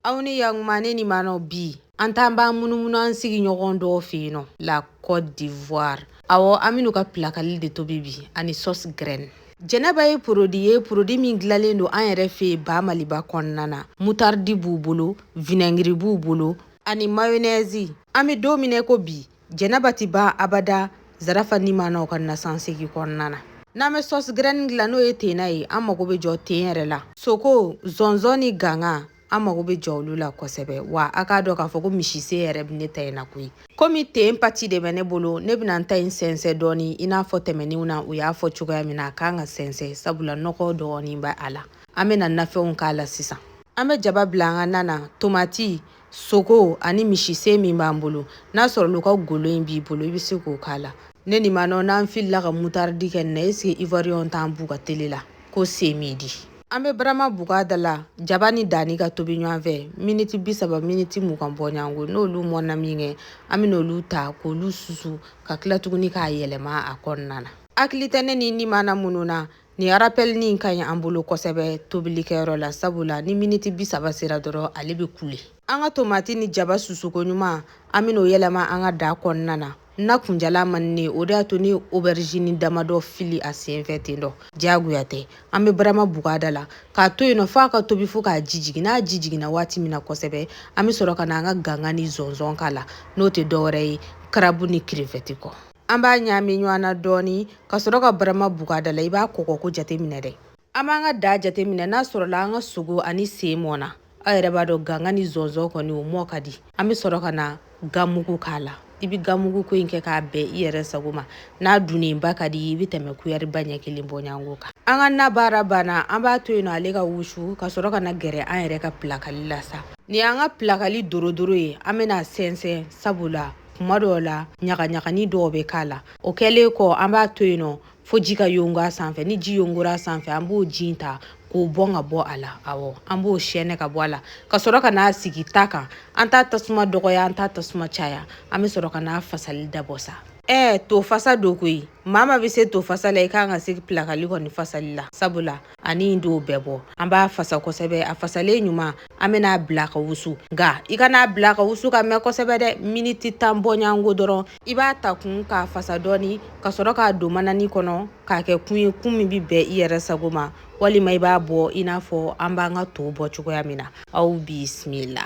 aw ni yakuma ne nimanaw bi an t'an b'an munumunu an sigiɲɔgɔn dɔw fɛ yen nɔ la côte d'ivoire awɔ an bɛn'u ka pilakali de tobi bi ani sauce graine jɛnɛba ye porodi ye porodi min dilalen don an yɛrɛ fɛ ba maliba kɔnɔna na mutardi b'u bolo vinɛngiri b'u bolo ani mayonɛzi an bɛ don min na ko bi jɛnɛba ti ban abada zarafa nimanaw ka nasansegi kɔnɔna na n'an bɛ sauce graine dila n'o ye tenna ye an mago bɛ jɔ ten yɛrɛ la sogo zɔnzɔn ni ganga an mago bɛ jɔ olu la kosɛbɛ wa a k'a dɔn k'a fɔ ko misisen yɛrɛ bɛ ne ta in na koyi komi ten pati de bɛ ne bolo ne bɛna n ta in sɛnsɛn dɔɔni i n'a fɔ tɛmɛnenw na u y'a fɔ cogoya min na a kan ka sɛnsɛn sabula nɔgɔ dɔɔni bɛ a la an bɛna nafɛnw k'a la sisan an bɛ jaba bila an ka nan na tomati sogo ani misisen min b'an bolo n'a sɔrɔl'u ka golo in b'i bolo i bɛ se k'o k'a la ne nimanaw n'an filila ka mutaridi kɛ nin na est ce que ivoiriyɛnw t'an b'u ka tele la ko c'est midi an bɛ barama buga da la jaba ni dani ka tobi ɲɔgɔn fɛ miniti bi saba miniti mugan bɔɲɔgɔnko n'olu mɔnna minkɛ an bɛn'olu ta k'olu susu ka tila tuguni k'a yɛlɛma a kɔnɔna na hakili tɛ ne nimana minnu na Ni arapelini ka ɲi an bolo kosɛbɛ tobilikɛyɔrɔ la sabula ni miniti bi saba sera dɔrɔn ale bɛ kule an ka tomati ni jaba susu koɲuman an bɛn'o yɛlɛma an ka da kɔnɔna na na kunjala man di ne ye o de y'a to n ye oberizini damadɔ fili a senfɛ ten dɔ diyagoya tɛ an bɛ barama buga da la k'a to yen nɔ f'a ka tobi fo k'a ji jigin n'a ji jiginna waati min na kosɛbɛ an bɛ sɔrɔ ka na an ka ganga ni zɔnzɔn k'a la n'o tɛ dɔwɛrɛ ye karabu ni kirefɛti kɔ An b'a ɲaami ɲɔgɔn na dɔɔnin ka sɔrɔ ka barama buga da la i b'a kɔgɔko jateminɛ dɛ an b'an ka da jateminɛ n'a sɔrɔla an ka sogo ani sen mɔnna aw yɛrɛ b'a dɔn ganga ni zɔnzɔn kɔni o mɔn ka di an bɛ sɔrɔ ka na gamugu k'a la i bɛ gamugu ko in kɛ ka bɛn i yɛrɛ sago ma n'a dunnenba ka di i bɛ tɛmɛ kuyɛriba ɲɛ kelen bɔɲɔgɔnko kan an ka na baara banna an b'a to yen nɔ ale ka wusu ka sɔrɔ ka na gɛrɛ an yɛrɛ ka pilakali la sa nin y'an ka pilakali dorodoro ye an bɛn'a sɛnsɛn sabula kuma dɔw la ɲagaɲagani dɔw bɛ k'a la o kɛlen kɔ an b'a to yen nɔ fo ji ka yongo a sanfɛ ni ji yongora a sanfɛ an b'o ji in ta k'o bɔn ka bɔ a la awɔ an b'o sɛɛnɛ ka bɔ a la ka sɔrɔ ka n'a sigi ta kan an t'a tasuma dɔgɔya an t'a tasuma caya an bɛ sɔrɔ ka n'a fasali dabɔ sa ɛɛ to fasa don koyi maa maa bɛ se to fasa la i kan ka se pilakali kɔni fasali la sabula ani in don bɛɛ bɔ an b'a fasa kosɛbɛ a fasalen ɲuman an bɛn'a bila ka wusu nka i kan'a bila ka wusu ka mɛn kosɛbɛ dɛ miniti tan bɔɲɔgɔnko dɔrɔn i b'a ta kun k'a fasa dɔɔni ka sɔrɔ k'a don manani kɔnɔ k'a kɛ kun ye kun min bɛ bɛn i yɛrɛ sago ma walima i b'a bɔ i n'a fɔ an b'an ka to bɔ cogoya min na aw bisimila.